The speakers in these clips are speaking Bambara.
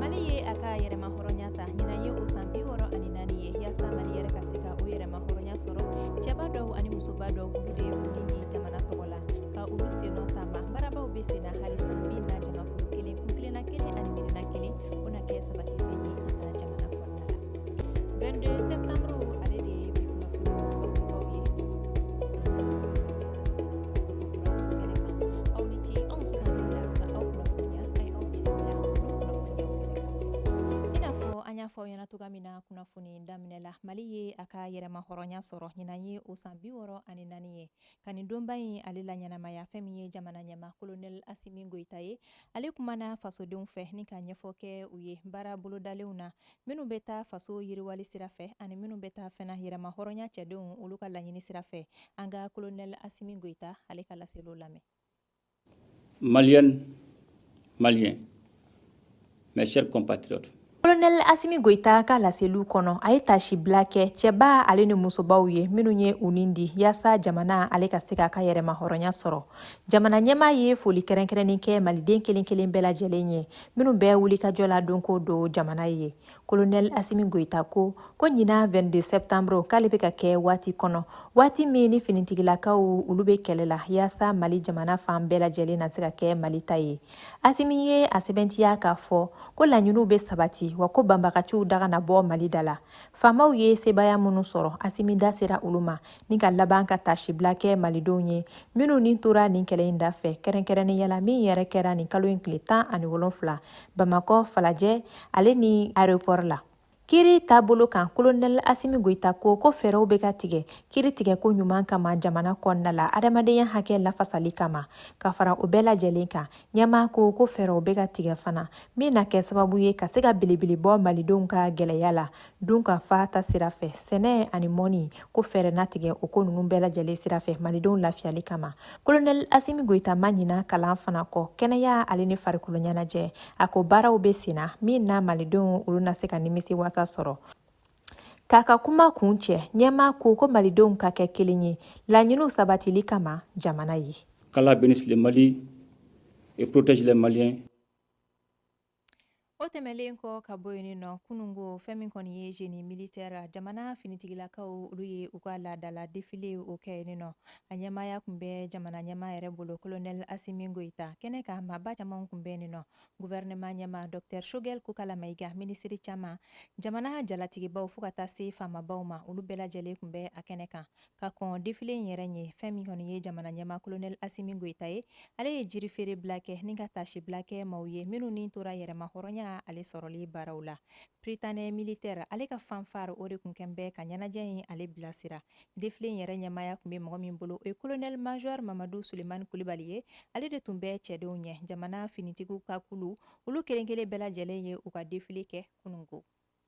mali ye a ka yɛrɛmahɔrɔnya ta ɲinan ye o san bi wɔɔrɔ ani naani ye yaasa mali yɛrɛ ka se ka o yɛrɛmahɔrɔnya sɔrɔ cɛba dɔw ani musoba dɔw olu de ye u ni di jamana tɔgɔ la ka olu sennɔ ta ba baarabaw bɛ sen na halisa min na jamakulu kelen kuntilenna kelen ani miirina kelen o na kɛ sabati cogoya min na kunnafoni daminɛ la mali ye a ka yɛrɛmahɔrɔnya sɔrɔ ɲinan ye o san bi wɔɔrɔ ani naani ye ka nin donba in ale laɲɛnamaya fɛn min ye jamana ɲɛma kolonɛli asimi goyita ye ale kumana fasodenw fɛ ni ka ɲɛfɔ kɛ u ye baara bolodalenw na minnu bɛ taa faso yiriwali sira fɛ ani minnu bɛ taa fana yɛrɛmahɔrɔnya cɛdenw olu ka laɲini sira fɛ an ka kolonɛli asimi goyita ale ka laseliw lamɛn maliennes maliens mes chers compatriotes kolonɛli asimi goyita ka laseliw kɔnɔ a ye tasibila kɛ cɛba ale ni musobaw ye minnu ye u ni di yaasa jamana ale ka se k'a ka yɛrɛmahɔrɔnya sɔrɔ jamana ɲɛmaa ye foli kɛrɛnkɛrɛnnen kɛ maliden kelen kelen bɛɛ lajɛlen ye minnu bɛɛ wulikajɔ la don ko don jamana ye kolonɛli asimi goyita ko ko ɲinan 22 septembre k'ale bɛ ka kɛ waati kɔnɔ waati min ni finitigilakaw olu bɛ kɛlɛ la yaasa mali jamana fan bɛɛ lajɛlen na se ka kɛ mali ta ye asimi ye a sɛbɛntiya k'a fɔ ko laɲiniw bɛ sabati wa ko banbagaciw daga na bɔ mali da la faamaw ye sebaaya minnu sɔrɔ asimi da sera olu ma ni ka laban ka tasibila kɛ malidenw ye minnu ni tora nin kɛlɛ in da fɛ kɛrɛnkɛrɛnnenya la min yɛrɛ kɛra nin kalo in tile tan ani wolonfila bamakɔ falajɛ ale ni aéroport la kiri taabolo kan kolonɛl asimi goyita ko ko fɛɛrɛw bɛ ka tigɛ kiri tigɛko ɲuman kama jamana kɔnɔna la adamadenya hakɛ lafasali kama ka fara o bɛɛ lajɛlen kan ɲɛmaa ko ko fɛɛrɛw bɛ ka tigɛ fana min na kɛ sababu ye ka se ka belebele bɔ malidenw ka gɛlɛya la dunkafa ta sira fɛ sɛnɛ ani mɔnni ko fɛɛrɛ na tigɛ o ko ninnu bɛɛ lajɛlen sira fɛ malidenw lafiyali kama kolonɛli asimi goyita ma ɲina kalan fana kɔ kɛnɛya ale ni farikolo ɲɛnajɛ a ko baaraw bɛ senna min na malidenw olu na se ka nimisiwasa sɔrɔ k'a ka kuma kuncɛ ɲɛma ko ko malidenw ka kɛ kelen ye laɲiniw sabatili kama jamana ye qu'allah bénisse le mali et protège les maliens o tɛmɛlen kɔ ka bɔ yen nɔ kunungo fɛn min kɔni ye génie militaire jamana finitigilakaw olu ye u ka laadala défilé o kɛ yen nɔ a ɲɛmaaya kun bɛ jamana ɲɛma yɛrɛ bolo kolonɛli asimi goyita kɛnɛ kan maaba caman kun bɛ yen nɔ gouvernement ɲɛma docteur sogɛli kokala mayiga minisiri caman jamana jalatigibaw fo ka taa se faamabaw ma olu bɛɛ lajɛlen kun bɛ a kɛnɛ kan ka kɔn défilé in yɛrɛ ɲɛ fɛn min kɔni ye jamana ɲɛmaa colonel Assimi Goïta ye ale ye jiri feere bila kɛ ni ka taasi bila kɛ maaw ye minnu ni tora yɛrɛma hɔrɔnya ale sɔrɔli baaraw la prytanée militaire ale ka fanfare o de tun kɛlen bɛ ka ɲɛnajɛ in ale bilasira défilé in yɛrɛ ɲɛmaaya tun bɛ mɔgɔ min bolo o ye colonel major mamadu sulemani kulibali ye ale de tun bɛ cɛdenw ɲɛ jamana finitigiw ka kulu olu kelen kelen bɛɛ lajɛlen ye u ka défilé kɛ kunun ko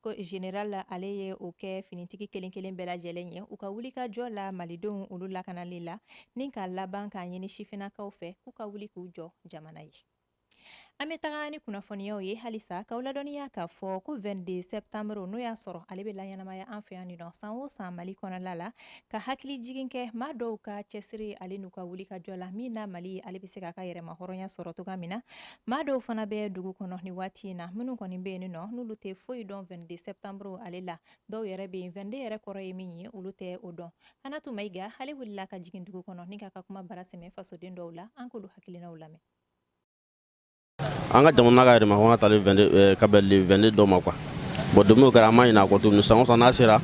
ko général ale ye o kɛ finitigi kelen kelen bɛɛ lajɛlen ye u ka wuli ka jɔ la malidenw olu lakanali la ni ka laban k'a ɲini sifinnakaw fɛ k'u ka wuli k'u jɔ jamana ye an bɛ taga ni kunnafoniyaw ye halisa k'aw ladɔnniya k'a fɔ ko 22 septembre n'o y'a sɔrɔ ale bɛ laɲɛnamaya an fɛ yan nin nɔ san o san mali kɔnɔla la ka hakili jigin kɛ maa dɔw ka cɛsiri ale n'u ka wuli ka jɔ la min na mali ale bɛ se k'a ka yɛrɛma hɔrɔnya sɔrɔ cogoya min na maa dɔw fana bɛ dugu kɔnɔ nin waati in na minnu kɔni bɛ yen nɔ n'olu tɛ foyi dɔn 22 septembre ale la dɔw yɛrɛ bɛ yen 22 yɛrɛ kɔrɔ ye min ye olu tɛ o dɔn Hanatu Mayiga ale wulila ka jigin dugu kɔnɔ ni k'a ka kuma bara sɛmɛ fasoden dɔw la an k'olu hakilinaw lamɛn an ka jamana ka yɛrɛma hɔrɔnya tali eh, ka bɛn le 22 don ma quoi bon don min o kɛra an ma ɲinɛ a kɔ tuguni san o san n'a sera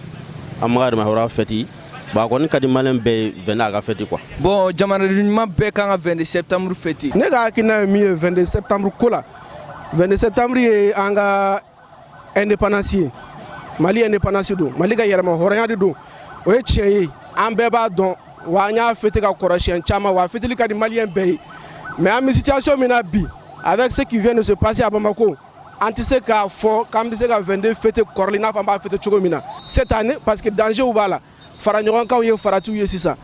an ma ka yɛrɛma hɔrɔnya fɛti bon a kɔni ka di maliyɛn bɛɛ ye 22 a ka fɛti quoi bon jamanaden ɲuman bɛɛ kan ka 22 septembre fɛti ne ka hakilina ye min ye 22 septembre ko la 22 septembre ye an ka indépendance ye mali indépendance don mali ka yɛrɛma hɔrɔnya de don o ye tiɲɛ ye an bɛɛ b'a dɔn wa an y'a fêter ka kɔrɔ siyɛn caman wa a fêteli ka di maliyɛn bɛɛ ye mais an bɛ situation min na bi avec ce qui vient de se passer à Bamako an tɛ se k'a fɔ k'an bɛ se ka 22 fêter kɔrɔlen i n'a fɔ an b'a fêter cogo min na cette année parce que danger b'a la faraɲɔgɔnkanw ye faratiw ye sisan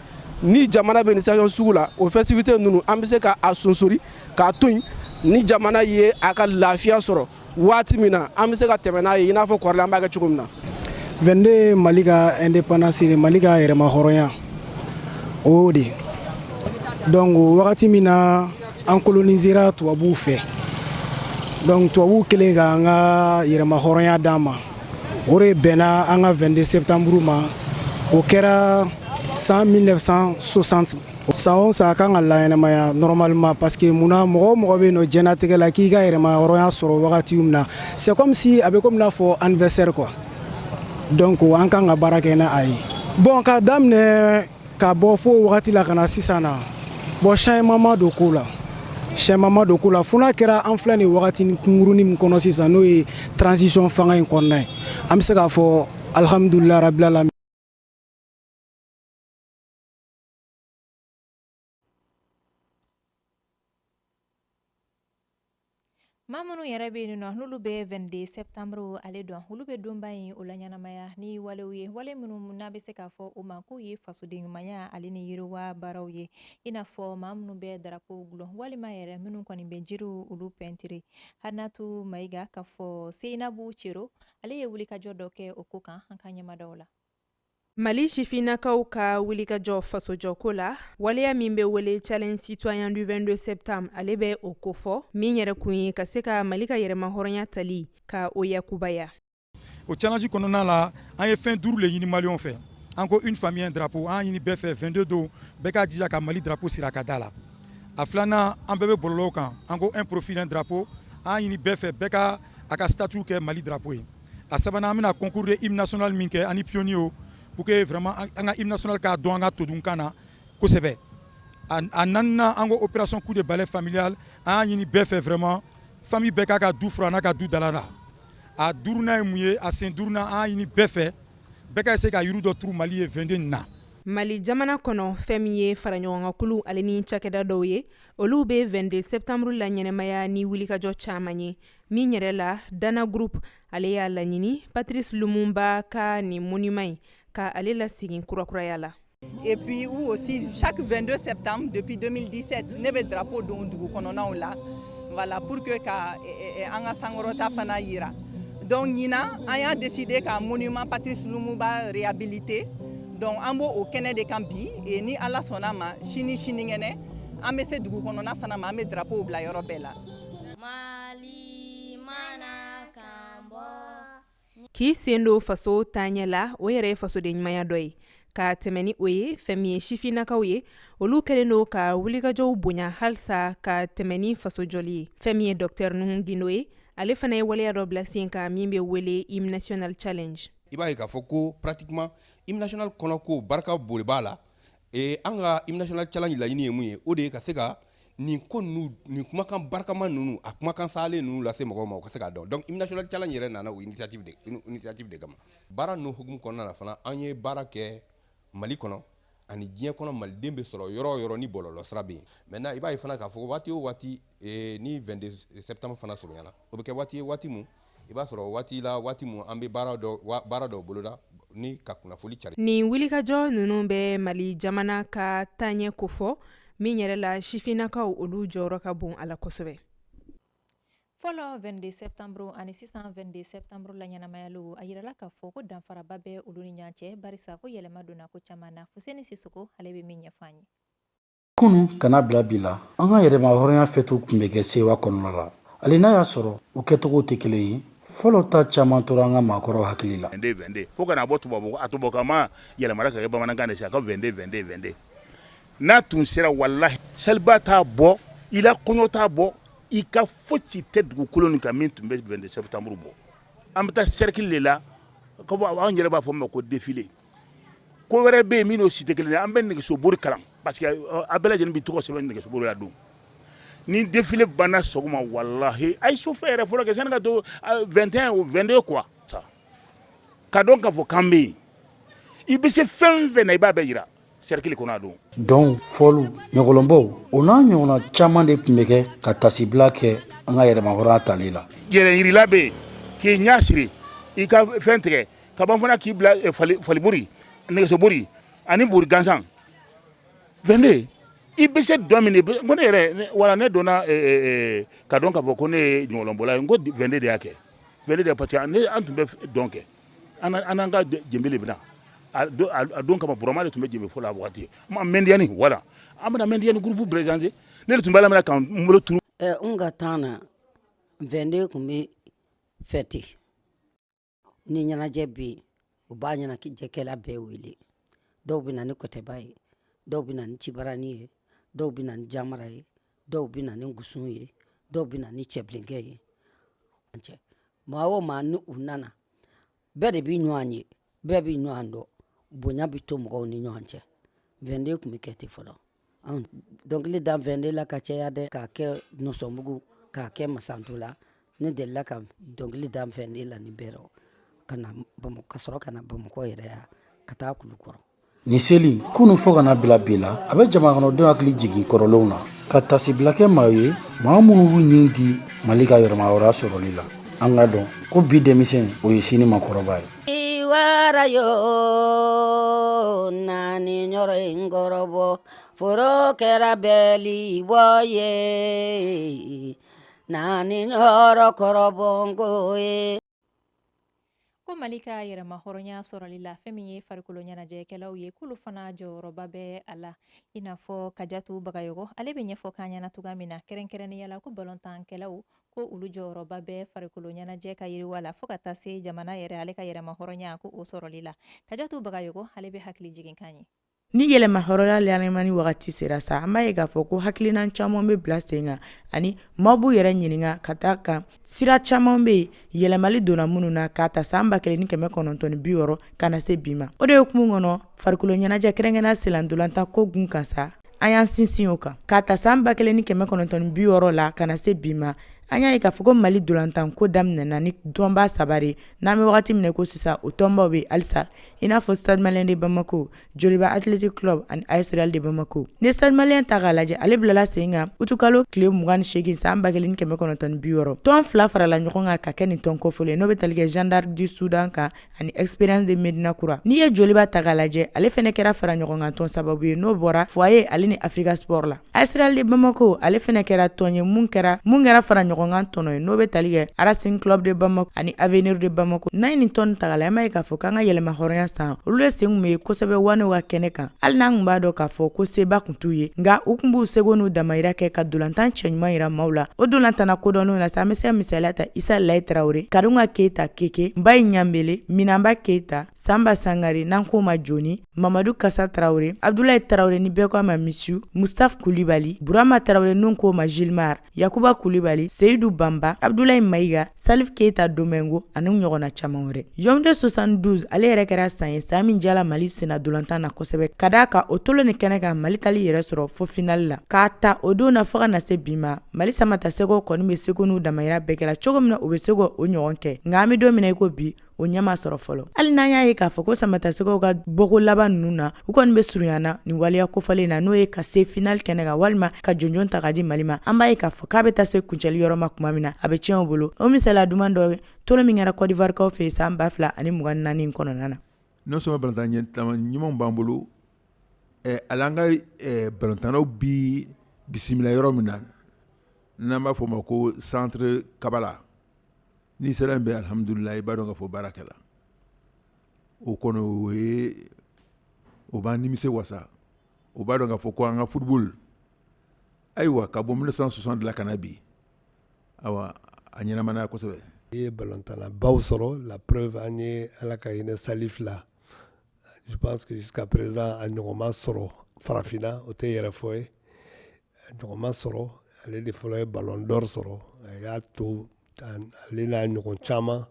ni jamana bɛ nin situation sugu la o festivité ninnu an bɛ se ka a sonsori k'a to yen ni jamana ye a ka lafiya sɔrɔ waati min na an bɛ se ka tɛmɛ n'a ye i n'a fɔ kɔrɔlen an b'a kɛ cogo min na. 22 Mali ka indépendance Mali ka yɛrɛmahɔrɔnya o y'o de ye donc wagati min na an colonisera tubabuw fɛ donc tubabuw kɛlen k'an ka yɛrɛmahɔrɔnya d'an ma. o de bɛnna an ka 22 septembre ma o kɛra san 1960 san o san a kan ka laɲɛnamaya normalement parce que mun na mɔgɔ o mɔgɔ bɛ yen nɔ diɲɛnatigɛ la k'i ka yɛrɛma hɔrɔnya sɔrɔ wagati min na c'est comme si a bɛ komi n'a fɔ anniversaire quoi donc an kan ka baara kɛ n'a a ye bon k'a daminɛ ka bɔ fo wagati la ka na sisan na bon changement ma don ko la changement ma don ko la fo n'a kɛra an filɛ nin wagatinin kunkurunin min kɔnɔ sisan n'o ye transition fanga in kɔnɔna ye an bɛ se k'a fɔ alhamdulilayi rabil alamin Maa minnu yɛrɛ bɛ yen nɔn n'olu bɛ 22 septembre ale dɔn olu bɛ donba in o laɲɛnamaya ni walew ye wale minnu n'a bɛ se k'a fɔ o ma k'u ye fasoden ɲumanya ale ni yiriwa baaraw ye i n'a fɔ maa minnu bɛ darapo gulon walima yɛrɛ minnu kɔni bɛ jiriw olu pɛntiri Halimatu Mayiga k'a fɔ Seinabu Cero ale ye wulikajɔ dɔ kɛ o ko kan an ka ɲɛmaa dɔw la Mali sifinnakaw ka wulikajɔ fasojɔko la waleya min bɛ wele challenge citoyen du 22 septembre ale bɛ o kofɔ min yɛrɛ kun ye ka se ka mali ka yɛrɛmahɔrɔnya tali ka o yakubaya o challenge kɔnɔna la an ye fɛn duuru le ɲini maliyɛnw fɛ an ko une famille un drapeau an y'a ɲini bɛɛ fɛ 22 don bɛɛ k'a jija ka mali drapeau siri a ka da la a filanan an bɛɛ bɛ bɔlɔlɔw kan an ko un profil un drapeau an y'a ɲini bɛɛ fɛ bɛɛ ka a ka statut kɛ mali drapeau ye a sabanan an bɛna concours de hymne national min kɛ ani pionniers pour que vraiment an ka hymne national k'a dɔn an ka todunkan na kosɛbɛ a naaninan an ko opération coup de balai familial an y'a ɲini bɛɛ fɛ vraiment famille bɛɛ k'a ka du furan n'a ka du dala la a duurunan ye mun ye a sen duurunan an y'a ɲini bɛɛ fɛ bɛɛ ka se ka yiri dɔ turu mali ye 22 nin na mali jamana kɔnɔ fɛn min ye faraɲɔgɔnkankulu ale ni cakɛda dɔw ye olu bɛ 22 septembre laɲɛnamaya ni wulikajɔ caman ye min yɛrɛ la dana groupe ale y'a laɲini Patrice Lumumba ka nin monument in ka ale lasegin kurakuraya la. Et puis ou aussi chaque 22 septembre depuis 2017 ne bɛ drapeau don dugu kɔnɔnaw la voilà pour que ka an ka sankɔrɔta fana yira donc ɲinan an y'a décidé ka monument Patrice Lumumba réhabiliter donc an b'o o kɛnɛ de kan bi et ni Ala sɔnna ma sini sinikɛnɛ an bɛ se dugu kɔnɔna fana ma an bɛ drapeau bila yɔrɔ bɛɛ la. Mali mana kan bɔ k'i sen don faso taaɲɛ la o yɛrɛ ye fasoden ɲumanya dɔ ye ka tɛmɛ ni o ye fɛn min ye sifinnakaw ye olu kɛlen don ka wulikajɔw bonya halisa ka tɛmɛ ni faso jɔli ye fɛn min ye docteur Nuhu Gindo ye ale fana ye waleya dɔ bila sen kan min bɛ wele hymne national challenge i b'a ye k'a fɔ ko pratiquement hymne national kɔnɔ ko barika boli b'a la Ee an ka hymne national challenge laɲini ye mun ye o de ye ka se ka nin ko ninnu nin kumakan barikama ninnu a kumakan salen ninnu lase mɔgɔw ma u ka se k'a dɔn donc hymne national challenge yɛrɛ nana o initiative de kama baara ninnu hukumu kɔnɔna na fana an ye baara kɛ mali kɔnɔ ani diɲɛ kɔnɔ maliden bɛ sɔrɔ yɔrɔ o yɔrɔ ni bɔlɔlɔ sira bɛ yen maintenant i b'a ye fana k'a fɔ waati o waati ni 22 septembre fana surunyara o bɛ kɛ waati ye waati min i b'a sɔrɔ waati la waati an bɛ baara dɔ boloda ni ka kunnafoni cari nin wulikajɔ ninnu bɛ mali jamana ka taaɲɛ kofɔ min yɛrɛ la sifinnakaw olu jɔyɔrɔ ka bon a la kosɛbɛ fɔlɔ 22 septembre ani sisan 22 septembre laɲɛnamayaliw a yirala k'a fɔ ko danfaraba bɛ olu ni ɲɔgɔn cɛ barisa ko yɛlɛma donna ko caman na Fuseni Sisoko ale bɛ min ɲɛfɔ an ye kunu ka na bila bi la an ka yɛrɛma hɔrɔnya fɛtiw tun bɛ kɛ sewa kɔnɔna la hali n'a y'a sɔrɔ u kɛcogow tɛ kelen ye fɔlɔ ta caman tora an ka maakɔrɔw hakili la fo ka na bɔ tubabu a tubabukan ma yɛlɛmana ka kɛ bamanankan de a ka 22 22 22 n'a tun sera walahi seliba t'a bɔ i la kɔɲɔ t'a bɔ i ka foyi tɛ dugukolo nin kan min tun bɛ 22 septembre bɔ an bɛ taa cercle de la ka bɔ anw yɛrɛ b'a fɔ ma ko défilé ko wɛrɛ bɛ yen min n'o si tɛ kelen ye an bɛ nɛgɛsobori kalan parce que a bɛɛ lajɛlen bɛ tɔgɔ sɛbɛn nɛgɛsobori la don ni défilé banna sɔgɔma walahi a ye su fɛ yɛrɛ fɔlɔ kɛ sani ka to 21 ou 22 quoi k'a dɔn k'a fɔ k'an bɛ yen i bɛ se fɛn fɛn na i b'a bɛɛ yira cercle kɔnɔ don dɔnw fɔliw ɲɔgɔlɔnbɔw o n'a ɲɔgɔnna caman de tun bɛ kɛ ka tasibila kɛ an ka yɛrɛmahɔrɔnya tali la yɛrɛyirala bɛ yen k'i ɲɛ siri i ka fɛn tigɛ ka ban fana k'i bila falibori nɛgɛsobori ani bori gansan 22 i bɛ se dɔ min ko ne yɛrɛ wa ne donna k'a dɔn k'a fɔ ko ne ye ɲɔgɔlɔnbɔla ye ko 22 de y'a kɛ 22 de parce que an tun bɛ dɔn kɛ an n'an ka jenbe de bɛ na a don kama burama de tun bɛ jenbe fɔ la waati mɛndiani wala an bɛna mɛndiani groupe présenté ne de tun b'a minɛ k'an bolo turu n ka temps na 22 tun bɛ fêter ni ɲɛnajɛ bɛ yen u b'a ɲɛnajɛkɛla bɛɛ wele dɔw bɛ na ni kɔtɛba ye dɔw bɛ na ni cibarani ye dɔw bɛ na ni jamara ye dɔw bɛ na ni ngusun ye dɔw bɛ na ni cɛbilenkɛ ye maa o maa ni u nana bɛɛ de bɛ ɲɔgɔn ye bɛɛ bɛ ɲɔgɔn dɔn bonya bɛ to mɔgɔw ni ɲɔgɔn cɛ 22 tun bɛ kɛ ten fɔlɔ dɔnkili da 22 la ka caya dɛ k'a kɛ nɔsɔnbugu k'a kɛ masantola ne dela ka dɔnkili da 22 la ni bɛɛ ka sɔrɔ ka na bamakɔ yɛrɛ yan ka taa kulukɔrɔ Nin seli kunun fo ka na bila bi la a bɛ jamana kɔnɔdenw hakili jigin kɔrɔlenw na ka tasibila kɛ maa ye maa minnu b'u nin di mali ka yɛrɛmahɔrɔnya sɔrɔli la an ka dɔn ko bi denmisɛn o ye sini makɔrɔba ye wara yo naani yɔrɔ in kɔrɔ foro kɛra bɛli bɔ ye naani yɔrɔ kɔrɔ ko ye ko mali ka yɛrɛma hɔrɔnya sɔrɔli la fɛn min ye farikolo ɲɛnajɛkɛlaw ye k'olu fana jɔyɔrɔba bɛ a la i n'a fɔ kajatu bagayɔgɔ ale bɛ ɲɛfɔ k'an ɲɛna cogoya min na kɛrɛnkɛrɛnnenya la ko balontankɛlaw ko olu jɔyɔrɔba bɛ farikolo ɲɛnajɛ ka yiriwa la fo ka taa se jamana yɛrɛ ale ka yɛrɛma hɔrɔnya ko o sɔrɔli la kajatu bagayɔgɔ ale bɛ hakili jiginkan ye Ni yɛrɛmahɔrɔnya lammani wagati sera sa an b'a ye k'a fɔ ko hakilinan caman bɛ bila sen kan ani maaw b'u yɛrɛ ɲininka k'a da a kan sira caman bɛ yen yɛlɛmali donna minnu na k'a ta san ba kelen ni kɛmɛ kɔnɔntɔn bi wɔɔrɔ ka na se bi ma o de hukumu kɔnɔ farikolo ɲɛnajɛ kɛrɛnkɛrɛnnenya sennantolatan ko kun kan sa an y'an sinsin o kan k'a ta san ba kelen ni kɛmɛ kɔnɔntɔn bi wɔɔrɔ la ka na se bi ma an y'a ye k'a fɔ mali ntolatan ko daminɛna ni tɔnba saba de n'an bɛ wagati min ko sisan o tɔnbaw bɛ halisa i n'a fɔ Stade Malien de Bamako, Joliba Athletic Club ani AS Real de Bamako, n'i ye stade malien ta k'a lajɛ ale bilala sen kan utikalo tile 28 san 1960, tɔn fila farala ɲɔgɔn kan ka kɛ nin tɔn kofɔlen ye n'o bɛ tali kɛ Jeanne d'Arc du Soudan kan ani Espérance de Medina Kura, n'i ye Joliba ta k'a lajɛ ale fana kɛra faraɲɔgɔnkantɔn sababu ye n'o bɔra Foyer ale ni Africa Sport la. AS Real de Bamako ale fana kɛra tɔn ye mun kɛra mun kɛra faraɲɔgɔnkantɔn dɔ ye n'o bɛ tali kɛ Racing Club de Bamako ani Avenir de Bamako n'an ye nin tɔn ta k'a lajɛ an b'a ye k'a fɔ k'an ka yɛrɛmahɔrɔnya san olu de sen tun bɛ ye kosɛbɛ waanew ka kɛnɛ kan hali n'an tun b'a dɔn k'a fɔ ko seba tun t'u ye nka u tun b'u seko n'u damayira kɛ ka ntolatan cɛ ɲuman jira maaw la o ntolatanna kodɔnnenw na sa an bɛ se ka misaliya ta isa layi tarawele karunga keyita keke mbayi ɲanbele minanba keyita sanba sangare n'an k'o ma joni mamadu kasa tarawele abdulayi tarawele ni bɛɛ k'a ma mishu mustaf kulibali burama tarawele n'u k'o ma gilmar yakuba kulibali seyidu banba abdulayi mayiga salif keita domingo ani ɲɔgɔnna caaman wɛrɛ yawunde 72 ale yɛrɛ kɛra san ye san min diyala mali sennantolatan na kosɛbɛ k'a da a kan o tulon in kɛnɛ kan mali taal'i yɛrɛ sɔrɔ fo finali la k'a ta o don na fo ka na se bi ma mali samatasɛgɛw kɔni b'u seko n'u damayira bɛɛ kɛla cogo min na u bɛ se ka o ɲɔgɔn kɛ nka an bɛ don min na i ko bi o ɲɛ ma sɔrɔ fɔlɔ hali n'an y'a ye k'a fɔ ko samatasɛgɛw ka bɔko laban ninnu na u kɔni bɛ surunyana nin waleya kofɔlen na n'o ye ka se finali kɛnɛ kan walima ka jɔnjɔn ta ka di mali ma an b'a ye k'a fɔ k'a bɛ taa se kuncɛli yɔrɔ ma tuma min na a bɛ tiɲɛ u bolo o misali duman dɔ tulon min kɛra kɔdiwarikaw fɛ yen san ba fila ani mugan naani kɔnɔna na non seulement balɔntanna ɲumanw b'an bolo eh, hali an ka eh, balɔntannaw bɛ bisimila yɔrɔ min na n'an b'a fɔ o ma ko centre kabala N'i sera yen bi alihamdulilayi i b'a dɔn k'a fɔ baara kɛla o kɔnɔ o ye o b'an nimisiwasa o b'a dɔn k'a fɔ ko an ka football ayiwa ka bɔ mille neuf cent soixante la ka na bi ayiwa a ɲɛnamayana kosɛbɛ i ye balɔntannabaw sɔrɔ la preuve an ye ala ka hinɛ salifu la je pense que jusqu'à présent a ɲɔgɔn ma sɔrɔ farafinna o tɛ yɛrɛfɔ ye Ɲɔgɔn ma sɔrɔ ale de fɔlɔ ye ballon d'or sɔrɔ a y'a to ale n'a ɲɔgɔn caman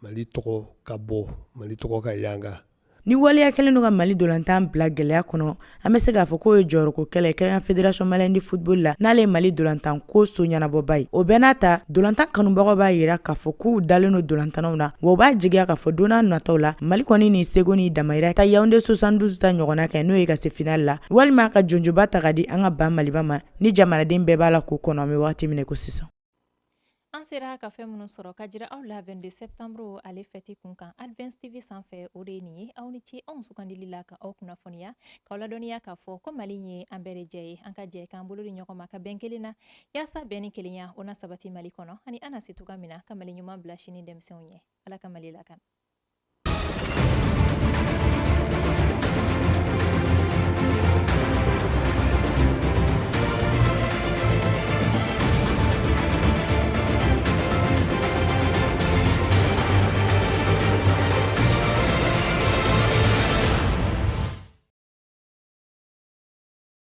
Mali tɔgɔ ka bɔ Mali tɔgɔ ka yanga. Ni waleya kɛlen don ka Mali ntolatan bila gɛlɛya kɔnɔ, an bɛ se k'a fɔ k'o ye jɔyɔrɔko kɛlɛ ye kɛrɛnkɛrɛnnenya Fédération Malienne de Football la, n'ale ye Mali ntolatanko so ɲɛnabɔba ye. O bɛɛ n'a ta, Dolantan kanubagaw b'a jira k'a fɔ k'u dalen don dolantannaw na wa u b'a jigiya k'a fɔ don nataw la Mali kɔni ni seko ni damayira ka Yaounde 72 ta ɲɔgɔnna kɛ n'o ye ka se finale la walima ka jɔnjɔnba ta ka di an ka ba Maliba ma ni jamanaden bɛɛ b'a la k'o kɔnɔ an bɛ wagati min ko sisan. An sera ka fɛn minnu sɔrɔ ka jira aw la 22 septembre ale fɛti kun kan Advance TV sanfɛ o de ye nin ye aw ni ce anw sugandili la ka aw kunnafoniya k'aw ladɔnniya k'a fɔ ko Mali ye an bɛɛ de jɛ ye an ka jɛ k'an bolo di ɲɔgɔn ma ka bɛn kelen na Yaasa bɛn ni kelenya o na sabati Mali kɔnɔ ani an na se cogoya min na ka Mali ɲuman bila sini denmisɛnw ɲɛ. Ala ka Mali lakana.